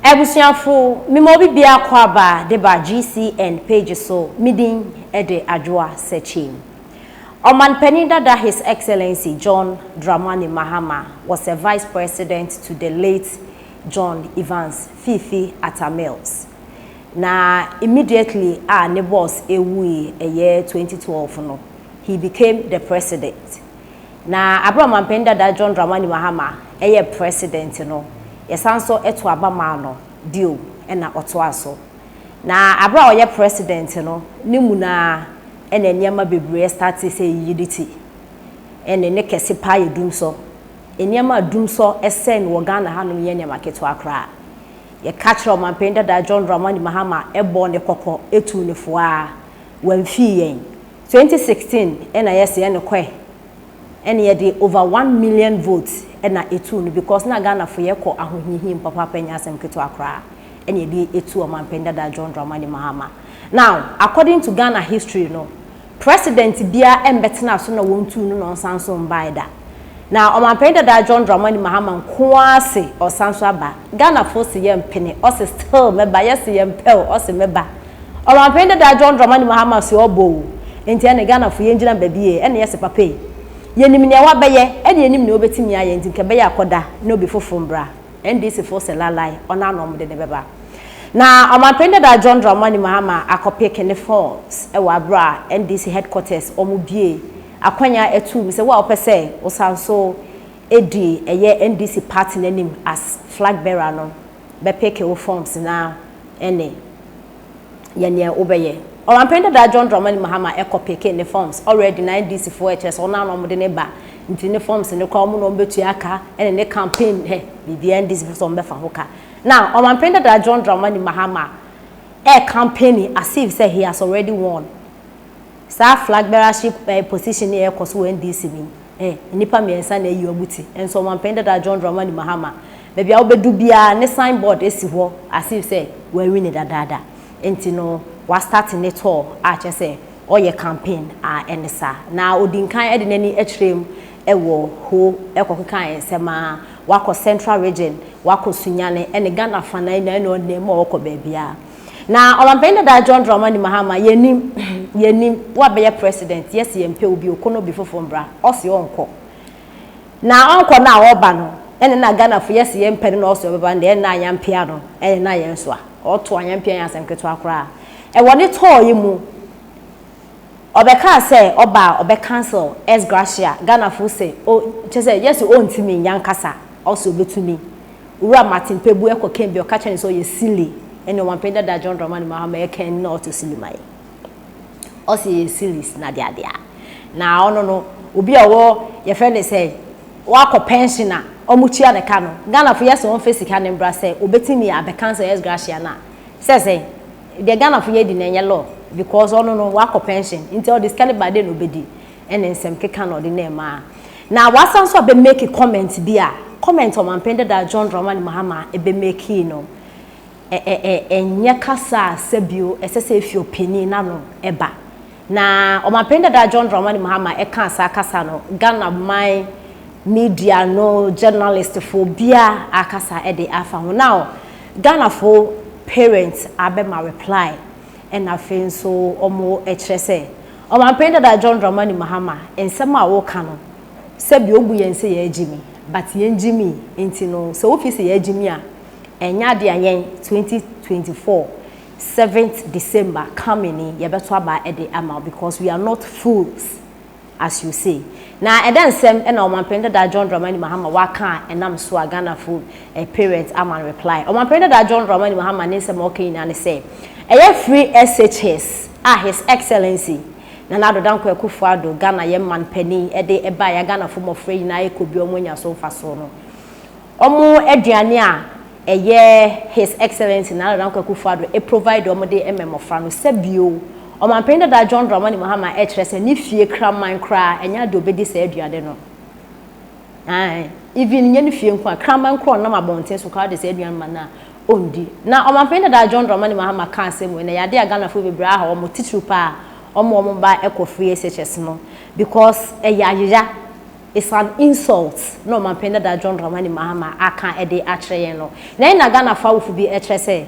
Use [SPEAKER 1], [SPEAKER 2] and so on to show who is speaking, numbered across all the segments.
[SPEAKER 1] Abusuafo, mema obi bia akɔaba de ba GCN page so, me din de Adwoa Sekyim. Ɔmanpanin dada His Excellency John Dramani Mahama was a vice president to the late John Evans Fifi Atta Mills. Na immediately a ne boss ɛwui ɛyɛ 2012 no, he became the president. Na aber a Ɔmampanyin Dada John Dramani Mahama yɛɛ President no, yɛsan nso too aba maa no bio na ɔtoaa so. Na aber a ɔyɛ President no, ne mu no ara na nneɛma bebree startee sɛ eyiyi ne ti. Ɛnne ne kɛse paa yɛ dumsɔ. Nneɛma a dumsɔ sɛɛ no wɔ Ghana hanom nyɛ nneɛma ketewa koraa. Yɛka kyerɛɛ Ɔmampanyin Dada John Dramani Mahama bɔɔ no kɔkɔ tuu no fo ara, ɔammfii yɛn. Twenty sixteen na yɛse ɛne kɔɛ ɛne yɛde over one million votes ɛna etuu no because na Ghana fo yɛ kɔ ahohiahim papaapa ɛnyɛ asɛm ketewa koraa ɛna yɛde etuu ɔmanpanin dada John Dramani Mahama now according to Ghana history no president biaa ɛmbɛtenaa so na wɔntuu no na ɔnsan nso mbaeɛ da Na Ɔmanpanyin dada John Dramani Mahama nko ara se ɔresan nso aba. Ghanafoɔ se yɛmpene, ɔse still mɛba, yɛse yɛmpɛ o, ɔse mɛba. Ɔmanpanyin dada John Dramani Mahama se ɔɔba o, nti ɛne Ghanafoɔ yɛngyina baabi e, ɛne yɛse papa e, yɛnim nea wabɛyɛ, ɛne yɛnim nea ɔbɛtumi ayɛ, nti nka ɛbɛyɛ a kɔda na obi foforo mbra. NDCfoɔ se laelae, ɔno ara na wɔde no bɛba. Na Ɔmanpanyin dada John Dramani Mahama akɔ pick ne phones wɔ abere a NDC headquarters wɔbue Akwanya ɛtuu me sɛ wo a wopɛ sɛ wo san so di ɛyɛ NDC party no anim as flag bearer no bɛ peke wo forms na ɛne yɛ neɛ wo bɛyɛ. Ɔmanpanin dadaa John Dramani Mahama ɛkɔ peke ne forms already na NDC foɔ ɛkyerɛ sɛ wɔn ara na wɔn de ne ba nti ne forms no koraa wɔn na wɔn bɛtua ka ɛne ne campaign hɛ biribiara NDC foɔ sɛ wɔn bɛfa ho ka. Na Ɔmanpanin dadaa John Dramani Mahama ɛɛ campaign as if sɛ he has already won Saa flag bearership position yi a ɛrekɔ so wɔ NDC mu yi, eh, nnipa mmiɛnsa na ayi wɔn ti, nso ɔmanpanin dada John Dramani Mahama, baabi a wobɛdu biara ne sign board si hɔ as if sɛ wawini dadaada. Enti no, wastate ne tour a kyerɛ sɛ ɔreyɛ campaign a ɛne saa. Na ɔdi nkan de n'ani kyerɛɛ mu wɔ Ho kɔkekae nsɛm ara, wakɔ Central Region, wakɔ Sunyani ne Ghana afanan nyinaa, ɛnna ɔnam mu a ɔkɔ baabiara. Na ɔmanpanyin dada John Dramani Mahama, yɛnnim, yɛnnim, woabɛyɛ president, yɛse yɛmpɛ wo bio, kɔ na obi foforɔ mbra, ɔse ɔnkɔ. Na ɔnkɔ no a ɔba no, ɛne na Ghanafo yɛse yɛmpɛ no na ɔse ɔbɛba no deɛ, ɛne na ayampia no, ɛne na yɛnsoa. Ɔto ayampia nyɛ asɛm ketewa koraa. Ɛwɔ ne tɔɔ yi mu, ɔbɛkaa sɛ ɔba a ɔbɛ cancel ex gratia, Ghanafo se, o, kyerɛ sɛ yɛse ɔntumi nyɛ ankasa, ɔse ɔbɛtumi. Owura Martin Pabue kɔkɛn bi a ɔka kyerɛɛ no sɛ ɔyɛ Sili ne Ɔmanpanyin dada John Dramani Mahama ɛkɛn no na ɔto Sili mae. Ɔse yɛyɛ Silis na adeadeaa. Na ɔno no obi a ɔwɔ yɛfrɛ no sɛ wakɔ pɛnhyen a wɔtua no ka no. Ghanafo yɛse wɔmfa sika no mbra sɛ obetumi abɛ cancel ex gratia no a. Sɛ sɛn? Deɛ Ghanafo yɛ di no ɛnyɛ law because ɔno no wakɔ pɛnhyen nti ɔde sika no ba a dɛn na obedi? ne nsɛm keka na ɔde no ɛmaa. Na wasan nso abɛ make comment bi a comment ɔmanpen dada John Dramani Mahama ɛbɛ makee no ɛ ɛ ɛ ɛnyɛ kasa a sɛbio ɛsɛ sɛ ɛfi ɔpanin n'ano ɛba. Na ɔmanpen dada John Dramani Mahama ɛkaa saa kasa no Ghana man media no journalist foɔ biara akasa ɛde afa ho. Now Ghana foɔ parents abɛma reply ɛna afei nso wɔn ɛkyerɛ sɛ Ɔmanpanin dada John Dramani Mahama nsɛm a wo ka no sɛbi obu yɛn sɛ yɛ gyimi but yɛn gyimi nti no sɛ wo fii sɛ yɛ gyimi a ɛnyɛ ade a yɛn 2024 seventh December coming ni yɛ bɛto aba ɛde ama wo because we are not fools as you say na ɛdɛ nsɛm ɛna ɔmanpanin dada John Dramani Mahama wa ka a ɛnam so a Ghana fo eh, parents ama no reply ɔmanpanin dada John Dramani Mahama ne nsɛm a ɔka nyinaa ne sɛ ɛyɛ free SHS a His Excellency Nana Addo Dankwa Akufo-Addo, Ghana yɛn man panin, de bae a Ghanafo mmɔfra nyinaa rekɔ bi a wɔanya so mfaso no. Wɔn aduane a ɛyɛ His Excellency Nana Addo Dankwa Akufo-Addo e provide wɔn de ma mmɔfra no, sɛ bio, Ɔmanpanin dada John Dramani Mahama kyerɛ sɛ ne fie kraman koraa ɛnyɛ ade a obedi saa aduane no. Ae, even nyɛ ne fie nko a, kraman koraa a ɔnam abɔnten so koraa de saa aduan ma no a, ɔndi. Na Ɔmanpanin dada John Dramani Mahama kaa asɛm wei, na ɛyɛ adeɛ a Ghanafoɔ bebree aha wɔn, titiriw pa ara wɔn a wɔn mma kɔ free SHS no, because ɛyɛ ayera, it's an insult na Ɔmanpanin dada John Dramani Mahama aka de akyerɛ yɛn no. Na ɛnna Ghanafoɔ awofo bi kyerɛ sɛ,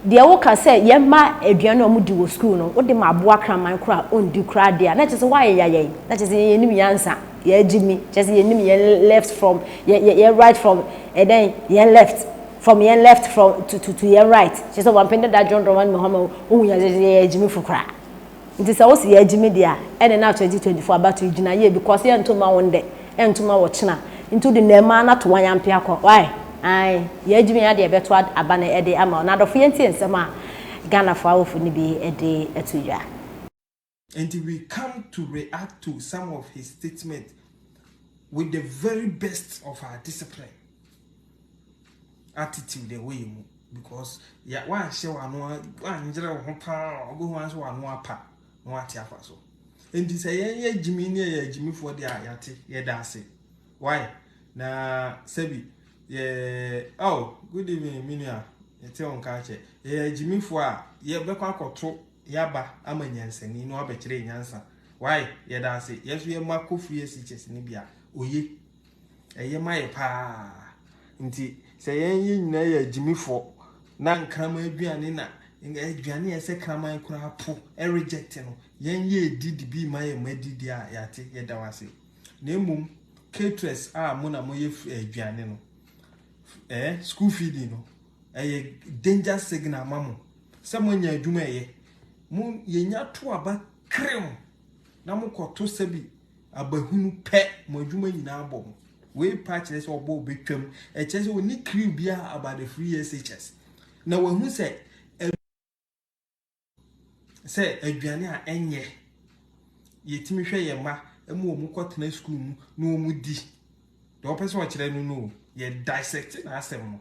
[SPEAKER 1] deɛ woka sɛ yɛn mma aduan a wɔdi wɔ sukuu no, wode ma aboa kraman koraa a ɔndi koraa deɛ a, na kyerɛ sɛ woayeyayɛn, na kyerɛ sɛ yɛn yɛnnim nyansa. yɛn gyimi kyerɛ sɛ yɛnim yɛn left from yɛn right from ɛdɛn yɛn left from yɛn left from to to to yɛn right kyerɛ sɛ wɔn apɛn dada dwondwon wɔn mɛhɔn ma ohun yɛn sɛ yɛn gyimi fo koraa nti sɛ wosi yɛn gyimi deɛ a ɛne na 2024 abato gyina yie because yɛn ntoma wɔn dɛ yɛn ntoma wɔ kyena nti wode na ɛma na to wɔn yɛn apea kɔ why ayi yɛn gyimi yɛn adeɛ ɛbɛto aba na ɛde ama wɔn adɔfo yɛn tie nsɛm a Ghana fo awofo ne bi ɛde ɛto dwa.
[SPEAKER 2] Enti we come to react to some of his statement with the very best of our discipline attitude ɛwɔ yɛ mu because yɛ wanhyɛ w'ano wangyerɛ wo ho paa ɔbɛhu wa nso w'ano apa na wate afa so nti sɛ yɛn yɛ gyimi ne yɛ gyimifoɔ deɛ a yɛate yɛda ase why na sɛbi yɛ oh good evening me nua yɛte wo nka akyɛ yɛ gyimifoɔ a yɛbɛkɔ akɔto Yaba ama nyansani no abɛkyerɛ yɛ nyansa wai yɛda ase yɛ so yɛ ma kɔ free asikyes ne bia oye ɛyɛ ma yɛ paa nti sɛ yɛn yɛ nyina yɛ agyimifɔ na nkrama aduane na aduane yɛ sɛ kraman koraa po reject no yɛn yɛ edi de bi ma yɛ ma di di a yɛate yɛda wase na emom caterers a mo na mo yɛ aduane no eh school feeding no ɛyɛ danger signal ma mo sɛ moanya adwuma ɛyɛ mo yɛnya to aba krem na mokɔto sɛ bi abahunu pɛ mo adwuma nyinaa bɔ mo wei pa kyerɛ sɛ ɔbɔ ɔbɛtwam ɛkyerɛ sɛ ɔni kriw biara about the free SHS na wahu sɛ sɛ aduane a ɛnyɛ yɛtumi hwɛ yɛn mma ma wɔn kɔtena sukuu mu na wɔn di deɛ wɔpɛ sɛ ɔkyerɛ no no yɛ dissect na asɛm no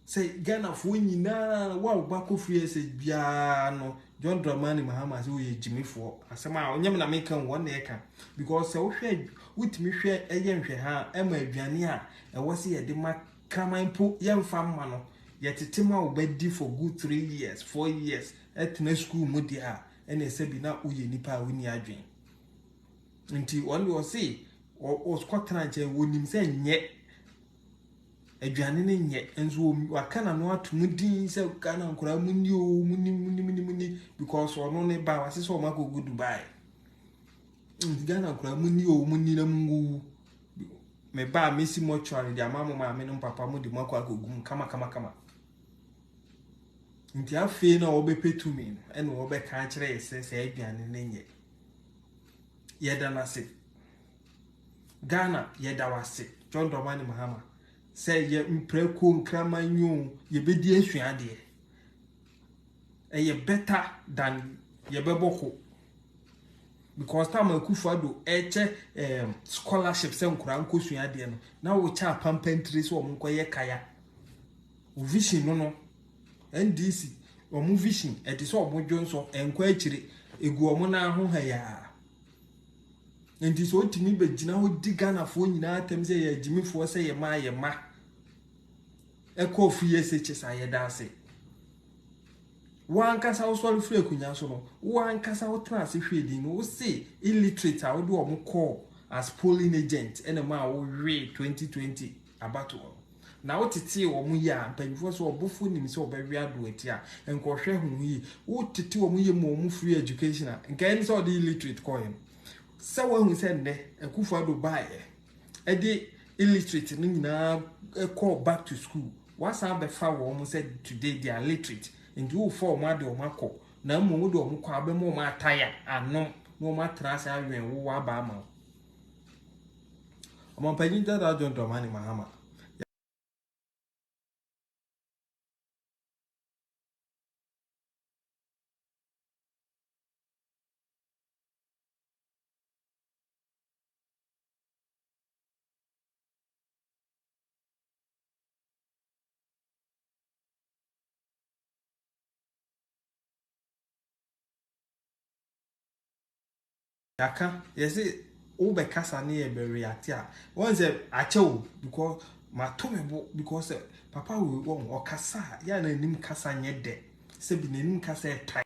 [SPEAKER 2] sɛ ghanafoɔ nyinaa wo a wo ba kɔ firi ɛsɛ biara no john dramani mahama sɛ woyɛ gyimifoɔ asɛm a ɔnyɛ me na meka wo wɔn na ɛka because sɛ wohwɛ wotumi hwɛ ɛyɛ nhwɛ ha ɛma aduane a ɛwɔ sɛ yɛde ma Kraman mpo yɛmfa mma no, yɛtete ma wo ba di for good three years, four years, tena sukuu mu deɛ a, ɛneɛ sɛbi na woyɛ nipa a wonni adwen. Nti wɔn deɛ ɔse ɔkɔtena nkyɛn, wɔnim sɛ nyɛ aduane no nyɛ, nso waka na no ato mu din sɛ Ghana nkoraa mu ni o, mu ni, mu ni, mu ni, mu ni, because ɔno ne ba, wase sɛ ɔma kɔgu Dubai. Nti Ghana nkoraa mu ni o, mu ni na mu nguwu. Me ba a mesi mortuary de ama mo maame ne mo papa mo de mo akɔ akɔgu mu kamakamakama. Nti afei na wɔbɛpɛ tumi no ɛna wɔbɛka akyerɛ yɛ sɛ saa aduane no nyɛ. Yɛda no ase. Ghana yɛda wo ase John Dramani Mahama sɛ yɛ mprako nkraman yi o yɛbɛdi asuadeɛ. ɛyɛ better than yɛbɛbɔ ko because time a Akufo Addo ɛkyɛ ɛɛm scholarship sɛ nkora nkosua adeɛ no na wɔkyɛ apampa ntire sɛ wɔn nkɔyɛ kaya o vision no no NDC wɔn vision ɛte sɛ wɔn dwo nso ɛnkɔ akyire egu wɔn nan ho ha yaa nti sɛ otumi bɛgyina hɔ di Ghanafoɔ nyinaa atɛm sɛ yɛ agyimifoɔ sɛ yɛ ma yɛ ma. Ɛkɔ fie SHS a yɛda ase. Wo ankasa wosɔre firi akonnwa so no, wo ankasa wotena ase hwɛ din no, wose illiterate a wode wɔn kɔɔ as polling agent ɛna mu a wowee 2020 abatoɔ no. Na wotetee wɔn yie a, mpanyinfoɔ sɛ ɔbɔfoɔ nim sɛ ɔbɛwe ado ati a, nka ɔhwɛ ho yie. Wotete wɔn yie ma wɔn free education a, nka ɛne sɛ ɔde illiterate kɔeɛ no. Sɛ woahu sɛ nnɛ Akufo-Addo baeɛ ɛde illiterate no nyinaa ɛkɔɔ back to school wasan abɛfa wɔn sɛ today they are literate nti wofa wɔn ade wɔn akɔ na mmom wode wɔn kɔ abɛma wɔn ataya anom na wɔn atena ase awɛn wo waba ama wo ɔmampanyin dada john dramani mahama yɛaka yɛse wobɛkasa ne yɛ bɛreate a wɔn sɛ akyɛ o because mato me bo because papa wei wɔn ɔkasa a yɛ a n'anim kasa nyɛ dɛ sɛbi n'anim kasa yɛ tan.